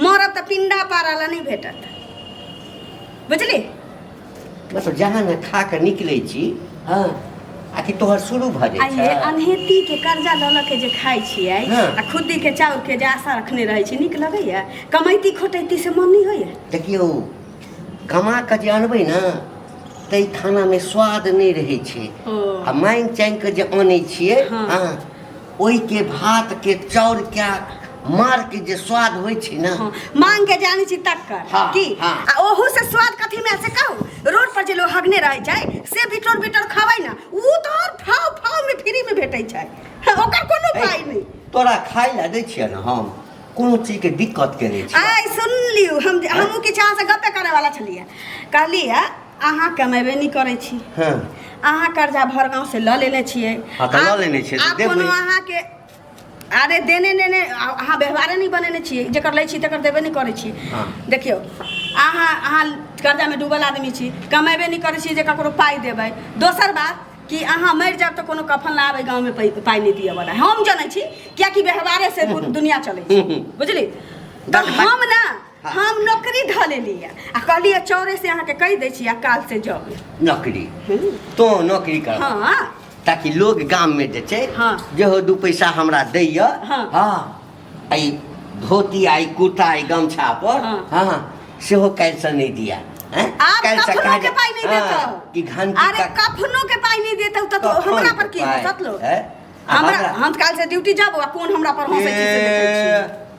मरत तऽ पिंडा पारा ला नहि भेटत बुझली मतलब जहाँ ने खा कऽ निकलै छी हँ आखिर तोहर शुरू भऽ आ जाइ ये छै अनहेती के कर्जा लऽ लऽ के जे खाइ छियै हँ। आ खुद्दी के चाउर के जे आशा रखने रहै छी नीक लगैया कमैती खोटैती से मन नहि होइया देखियौ कमा कऽ जे अनबै ने ताहि खानामे स्वाद नहि रहै छै ओ। आ माँगि चाँगि कऽ जे अनै छियै हँ। हँ ओहिके भातके चाउरके मारके जे स्वाद होइ छै ने हाँ, मांग के जाने छी तक कर हाँ, की हाँ। आ ओहू से स्वाद कथी में से कहू रोड पर जे लोग हगने रहे छै से बिटोर बिटोर खबै ना ऊ तो और फाव फाव में फ्री में भेटै छै हाँ, ओकर कोनो पाई नहीं तोरा खाइ लए दै छियै ने हम कोनो चीजके दिक्कत के नहि छै आय सुन लियौ हम हमहूँ किछु अहाँसँ गपे करैवला छलियै कहलियै अहाँ कमेबे नहि करै छी हँ अहाँ कर्जा भर गाँव से लऽ लेने छियै हँ, तऽ लऽ आब- लेने छियै, तऽ आब देबै। कोनो अहाँके अरे देने ने ने आ- अहाँ व्यवहारे नहि बनेने छियै जकर लै छी तकर देबे नहि करै छी हँ। देखियौ अहाँ अहाँ कर्जामे डूबल आदमी छी कमेबे नहि करै छी जे ककरो पाइ देबै दोसर बात कि अहाँ मरि जायब तऽ कोनो कफन ला आबै गाँवमे पाइ पाइ नहि दिअ बला हम जनै छी कियाकि व्यवहारे से दुनिया चलै छै बुझली तऽ हम ने हम नौकरी धऽ लेलियै आ कहलियै चौरे से अहाँके कहि दै छी आ काल से जाउ नौकरी तो नौकरी कर हाँ ताकि लोग गाम में जे छै हाँ। जे हो दू पैसा हमरा दैय हाँ। हाँ आई धोती आई कुर्ता आई गमछा पर हाँ। हाँ सेहो काल्हि से नहि दिया हैं? आप काल्हि से कफनो कहा के जा- पाई नहीं हाँ, देता कि घंटी अरे का- कफनो के पाई नहीं देता हूँ, तो तो कफन हमरा पर की के पाई, हंसत लोग हैं? आ हमरा हमरा- हम काल से ड्यूटी जाबो आ कोन हमरा पर हंसै छी से देखै छी ए,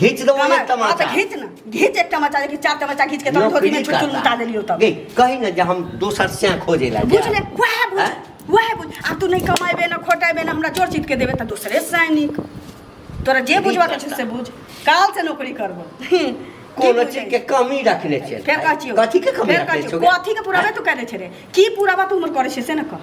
घीच दो कमर, एक हाँ तो तमाचा घीच ना घीच एक टमाचा देखी चार टमाचा घीच के तब धोती में छुटू लुटा ले लियो तब गे कही ना जे हम दोसर से खोजे ला बुझ ले वह बुझ हैं? वह बुझ आ तू नहीं कमाएबे ना खोटेबे ना हमरा जोर चीट के देबे त दूसरे सैनिक तोरा जे नहीं बुझवा के करता। से बुझ काल से नौकरी करबो कोनो चीज के कमी रखले छे फेर कह छियो कथी के कमी फेर कह रखले छियो छे कथी के पुराबे तू करे छे रे की पुराबा तू हमर करे छे से ना कह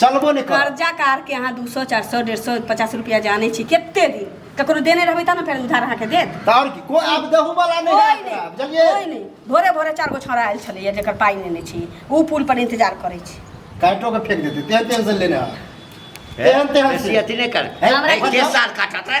चलबो नहि कर कर्जा कार के अहाँ दू सौ चार सौ डेढ़ सौ पचास रुपया जाने छी कते दिन ककरो देने रहबै तब ने फेर उधार अहाँके देत तऽ आओर की कोइ आब देहू वाला नहि कोइ है नहि, एकरा, कोइ बुझलियै नहि। भोरे भोरे चार गो छौड़ा आयल छलैया जेकर पाइ लेने छी ओ पुल पर इंतजार करै छी काटो के फेंक देते तेहन तेहन से लेने है तेहन तेहन बेसी से अथी नहि कर हमरा- जे साल काटत है